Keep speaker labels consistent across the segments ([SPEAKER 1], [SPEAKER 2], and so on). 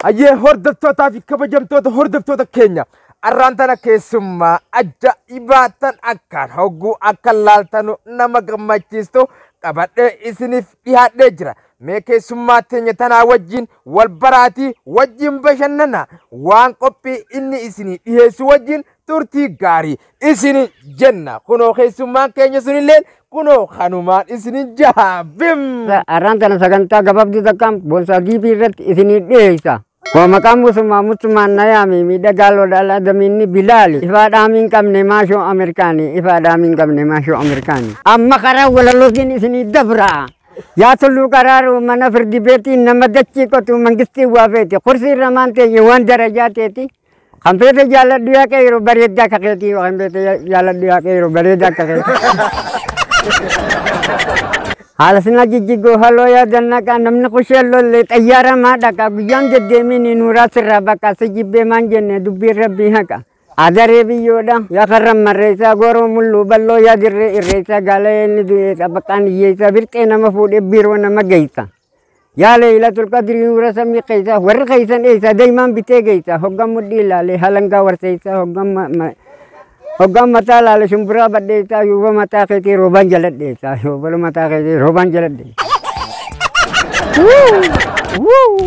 [SPEAKER 1] Hayyee hordoftootaa fi kabajamtoota hordoftoota keenya arraan tana keessummaa ajaa'ibaa tan akkaan hogguu akka laaltanu nama gammachiistu qabadhee isiniif dhihaadhee jira. Mee keessummaa teenya tanaa wajjin wal baraatii wajjin bashannana waan qophii inni isinii dhiheessu wajjin turtii gaarii isin jenna kunoo keessummaan keenya sunillee kunoo kanumaan isin jaha bim. Arraan tana
[SPEAKER 2] sagantaa gabaabduu takkaan boonsaa giifii irratti isinii dhiyeessa. Koo maqaan musummaa musummaan nayaami miidhagaa lodhaal adamiinni bilaali ifaa dhaamiin qabne maashoo ameerikaani ifaa dhaamiin qabne maashoo ameerikaani. Amma karaa walalootiin isinii dabra. Yaa tulluu qaraaru mana firdi beetiin nama dachii qotu mangistii waa feeti kursiin ramaan teenye waan darajaa teeti. Kan feete jaalladhu yaa qeeyro bareedda akka keetii kan feete jaalladhu yaa qeeyro bareedda akka keetii. Haala sinaa jijjigoo haloo yaadannaqaa namni kushee lollee xayyaara maa dhaqaa guyyaan deddeemiin nuuraa sirraa baqaa si jibbee maan jenne dubbiin rabbii haqa. Adaree biyyoodha yaa karra marreessaa gooroo mulluu balloo yaa dirree irreessaa gaalayee inni du'eessa baqaan hiyyeessaa birqee nama fuudhee biiroo nama geessa. Yaa leeylatul qadrii nuura samii keeysaa warri keeysan eeysaa daymaan bitee geeysaa hoggaan mudhii ilaalee halangaa warteeysaa hoggaan ma- ma- hoggaan mataa ilaale shumburaa badheeysaa yuuba mataa keetii roobaan jaladheeysaa yuuba mataa keetii roobaan jaladheeysaa. Wuu! Wuu!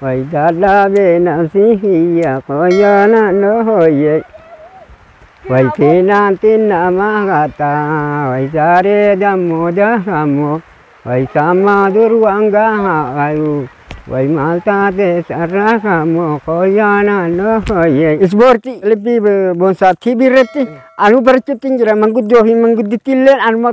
[SPEAKER 2] Way dadhabee nafsi kiyya koo yoona nooyye Way fiinaanti nama qatta way saaree dammoo dakammoo Way sammaa dur waan gahaa qayu way maal taatee sarra kammoo koo yoona nooyye Ispoortii kilibbii Boonsaa TV irratti anuu barachuutti hin jira manguddoo fi manguddittii illee anuma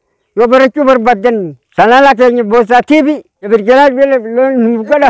[SPEAKER 2] Yoo barachuu barbaaddan chanaala keenya Boossaa TV Ebirjalaal Beela Biloon nuuf godha.